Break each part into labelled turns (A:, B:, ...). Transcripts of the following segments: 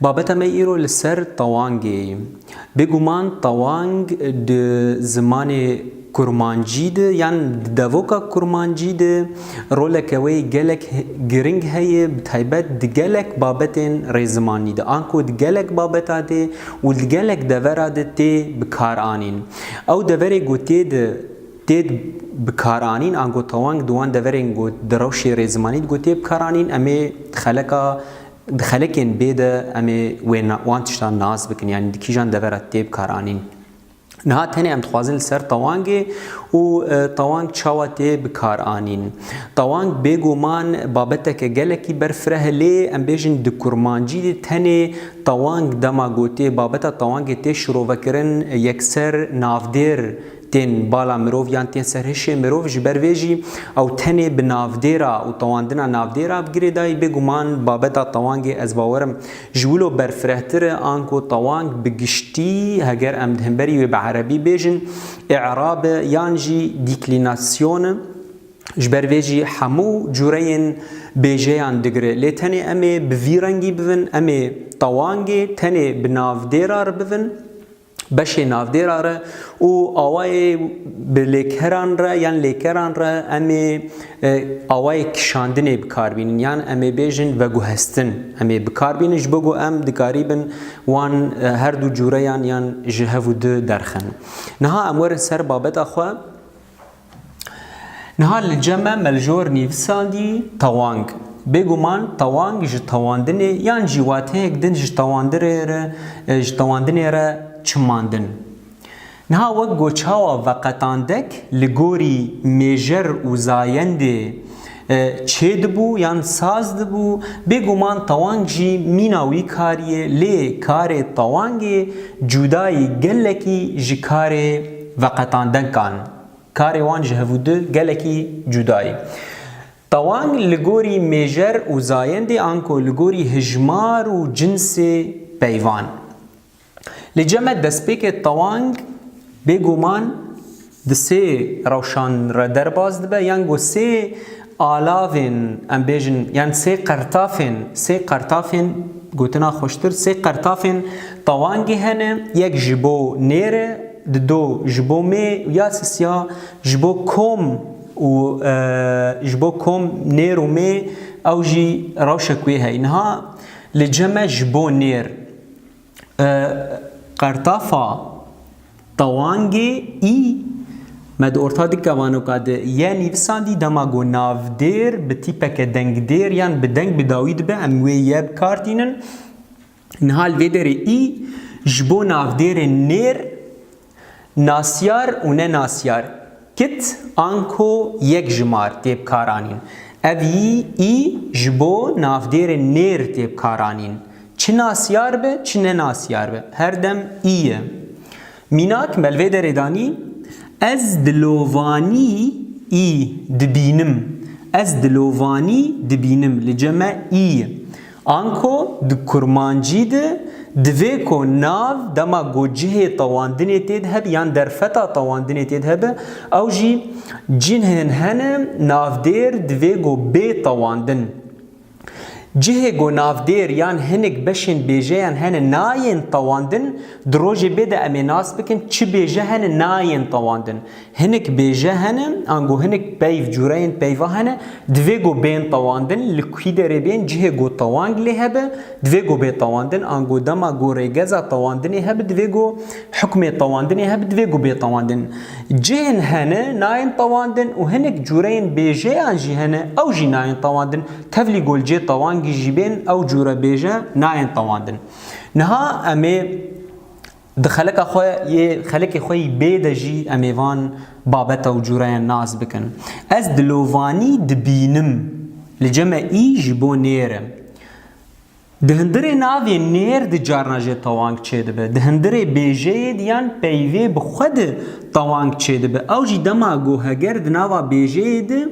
A: Babeta me îro li ser tawangê ye. Bêguman tawang di zimanê kurmancî de yan di devoka kurmancî de roleke wê gelek giring heye bi taybet di gelek babetên rêzimanî de. Anko di gelek babeta de û di gelek devera de tê bikaranîn. Ew deverê ku tê de tê bikaranîn ango tawang di wan deverên ku di rewşê rêzimanî de ku tê bikaranîn em ê xeleka Di xelekên bê de em ê wê wan tiştan nas bikin yanî di kîjan devera tê bikaranîn. Niha tenê em dixwazin li ser tawangê û tawang çawa tê bikaranîn. Tawang bêguman babeteke gelekî ber fireh e lê em bêjin di kurmancî de tenê tawang dema gotê babeta tawangê tê şirovekirin yekser navdêr tên bala mirov yan tên ser hişê mirov ji ber vê jî ew tenê bi navdêra û tewandina navdêra bi girê dayî bêguman babeta tewangê ez bawer im ji wilo berfirehtir e anku tewang bi giştî heger em di hemberî wê bi erebî bêjin î'rab e yan jî dîklînasyon e ji ber vê jî hemû cureyên bêjeyan digire lê tenê em ê bi vî rengî bivin em ê tewangê tenê bi navdêra re bivin. beşê navdêra re û awayê bi lêkeran re yan lêkeran re em ê e, awayê kişandinê bikar bînin yan em ê bêjin veguhestin em ê bikar bînin ji bo ku em dikarîbin wan e, her du cûreyan yan ji hev û di derxin. Niha em werin ser babeta xwe. Niha li cem e me li jor nivîsandî tewang. Bêguman tewang ji tewandinê yan jî wateyek din ji tewandinê re çimandin. Niha wek goçawa veqetandek li gorî mêjer û zayendê Çê dibû yan saz dibû, bêguman tewang jî mîna wî kariyê lê karê tewangê cûdayî gelekî ji karê veqetandenkan karê wan ji hevûdi gelekî cûdayî. Tewang li gorî mêjer û zayendê anko li gorî hijmar û cinsê peyvan. Li cem e destpêkê tewang bêguman di sê rewşan re derbas dibe yan ku sê alavên em bêjin yan sê qertafên sê qertafên gotina xweştir sê qertafên tewangî hene yek ji bo nêr e di do ji bo mê û ya sisiya ji bo kom û ji bo kom nêr û mê ew jî rewşek wê heye niha li cem e ji bo nêr. Qertafa Tawangê î me di orta di kevanoka di ye nivîsandî dema ku navdêr bi tîpeke dengdêr yan bi deng bi dawî dibe em wê ye bikartînin. Niha li vê derê î ji bo navdêrên nêr Nasyar û ne nasyar, kit an ko yek ji mar tê bikaranîn. Ev yî î ji bo navdêrê nêr tê bikaranîn. Çi nasyar be çi ne nasyar be her dem î ye. Mînak me li vê derê danî, Ez dilovanî î dibînim. Ez dilovanî dibînim li cem e î ye. Anko di kurmancî de divê ku nav dema ku cihê tewandinê tê de hebe yan derfeta tewandinê tê de hebe ew jî cinhên hene navdêr divê ku bê tewandin. Cihê ku navdêr yan hinek beşên bêjeyan hene nayên tewandin di rojê bê de em ê nas bikin çi bêje hene nayên tewandin. Hinek bêje hene, ango hinek peyv, cureyên peyva hene, divê go bên tewandin, li kî derê bên, cihê go tewang lê hebe, divê go bê tewandin, ango dema go rêgeza tewandinê hebe, divê go hukmê tewandinê hebe, divê go bê tewandin. Cihên hene, nayên tewandin û hinek cureyên bêjeyan jî hene, ew jî nayên tewandin, tevlî go li cê tewangî jî bên, ew cure bêje nayên tewandin. Niha emê. Di xelika xwe yê xelikê xwe yî bê de jî em ê van babeta û cûreyan nas bikin. Ez dilovanî dibînim, li ceme î ji bo nêr e. Di hundirê navê nêr di carna jê tewang çêdibe, di hundirê bêjeyê di yan peyvê bi xwe di tewang çêdibe. Ew jî dema ku heger di nava bêjeyê di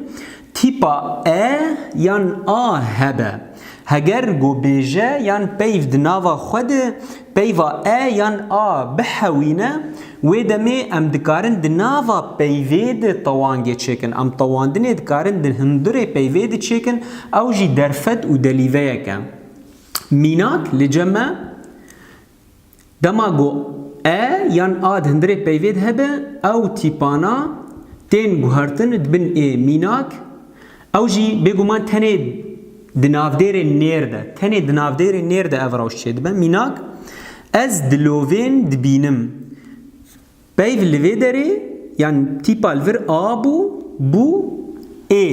A: Tîpa e yan a hebe. Heger gobêje yan peyv di nava xwe de peyva e yan a bihewîne, wê demê em dikarin di nava peyvê de tewangê çêkin. Em tewandinê dikarin di hundirê peyvê de çêkin, ew jî derfet û delîveyek e. Mînak li cem e. Dema ku e yan a di hundirê peyvê de hebe, ew tîpana tên guhertin dibin ê mînak, ew jî bêguman tenê di navdêrê nêr de, tenê di navdêrê nêr de ev rewş çêdibe, mînak, ez dilovên dibînim, Peyv li vê derê yan tîpa li vir a bû, bû, ê,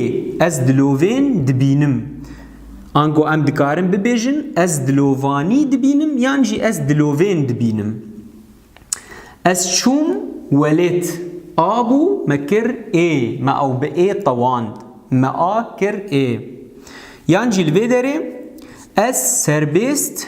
A: ez dilovên dibînim. Ango em dikarin bibêjin ez dilovanî dibînim yan jî ez dilovên dibînim. Ez çûm welêt a bû, me kir ê, me ew bi ê tewand, me a kir ê. Yan jî li vê derê ez serbêst.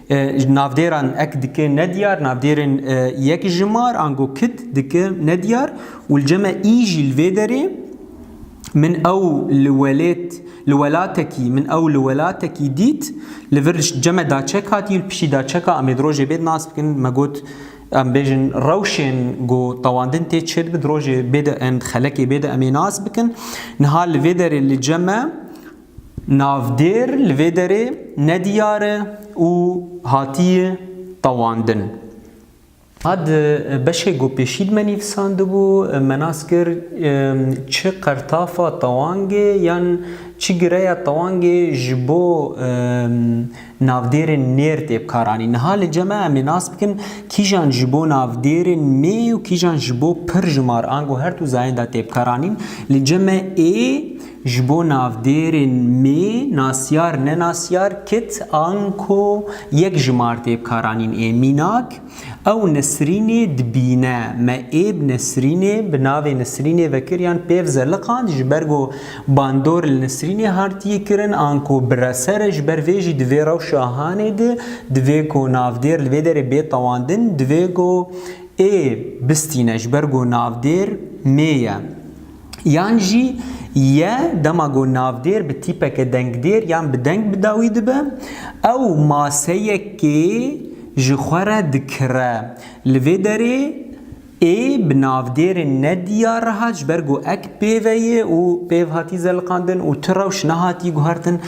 A: Navdêran ek dike nediyar, navdêrên yek jimar ango kit dike nediyar û li cem e î jî li vê derê min ew li welêt li welatekî min ew li welatekî dît li vir cem e da çek hatî û li piştî da çeka em ê di rojê bêd nas bikin me got em bêjin rewşên ku tewandin tê çê dibin di rojê bêde em di xelekê bêde em ê nas bikin niha li vê derê li cem e Navdêr li vê derê ne diyar e û hatiye tewandin. A di beşê ku pêşî dime nivîsandibû me nas kir çi qertafa tewangê yan çi gireya tewangê ji bo navdêrên nêr tê bikaranîn. Niha li cem e em ê nas bikin kîjan ji bo navdêrên nê û kîjan ji bo pir ji mar ango her du zayên de tê bikaranîn. Li cem e ê. Ji bo navdêrên mê, nasyar, nenasyar, kit, anko, yek ji mardêb karanîn ê, mînak, ew Nesrînê dibîne, me êb Nesrînê bi navê Nesrînê vekir yan pêv zeliqand ji ber ku bandor li Nesrînê hartiyî kirin anko biresere ji ber vê jî di vê rewşa hanê de divê ku navdêr li vê derê bê tewandin divê ku ê bistîne ji ber ku navdêr mê ye. yan jî ye dema ku navdêr bi tîpeke dengdêr yan bi deng bi dawî dibe, ew maseyekê ji xwe re dikire. Li vê derê ê bi navdêrên ne diyar re hat ji ber ku ek pêve ye û pêv hatî zeliqandin û tu rewş nehatî guhertin.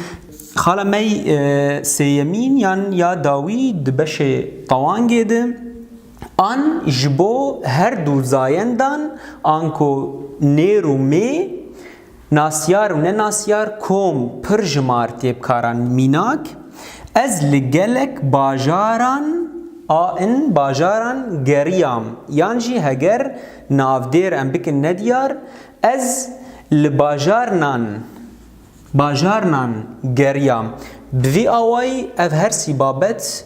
A: Xala me sêyemîn yan ya dawî di beşê tewangê de An ji bo her du zayendan anko nêr û mê, nasyar û nenasyar kom pir ji mar têbkaran mînak, ez li gelek bajaran a in bajaran geriyam yan jî heger navdêr em bikin nediyar ez li bajarnan bajarnan geriyam bi vî awayî ev her sî babet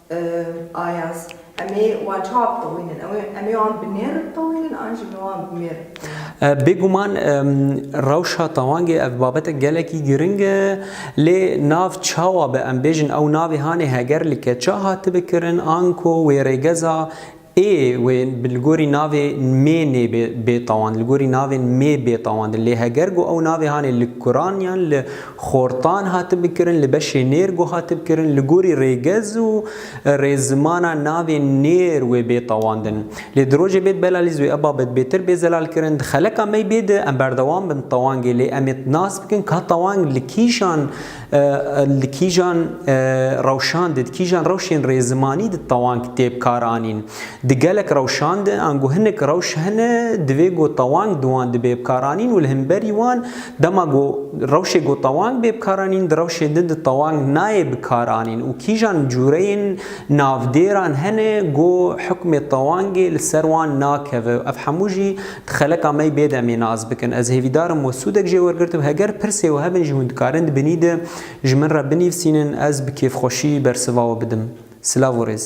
A: Ayaz, Em ê wan çawa bixewînin? Ew ê em ê wan bi nêr bixewînin an jî em ê wan bi mêr bixewînin? Bêguman rewşa tawangê ev babetek gelekî giring e. Lê nav çawa bi em bêjin ew navê hanê heger li keça hatibe kirin anko wê rêgeza Ê wê li gorî navê nmê nê bê bêtawand, li gorî navê nmê bêtawandin. Lê heger ku ew navê hanê li kuran yan li xortan hatibû kirin, li beşê nêr got hatibû kirin, li gorî rêgez û rêzimana navê nêr wê bêtawandin. Lê di rojê bêd belalî zû ev babet bêtir bê zelal kirin. Di xeleka me yî bê di em berdewam bin tawangê lê em ê nas bikin ka tawang li kîjan Li kîjan rewşan de, di kîjan rewşên rê zimanî di tewang tê bikaranîn? Di gelek rewşan de ango hinek rewş hene divê ku tewang di wan de bê bikaranîn û li hemberî wan dema ku rewşê ku tewang bê bikaranîn di rewşê din di tewang nayê bikaranîn û kîjan cûreyên navdêran hene ku hukmê tewangê li ser wan nakeve. Ev hemû jî Xeleka mey bê demê nas bikin. Ez hêvîdar im û sûdek jê wergirtim. Heger pirsê we hebin ji hûn dikarin di binî de ji min re binîvsînin ez bi kêfxweşî bersiva we bidim. Silav û rêz.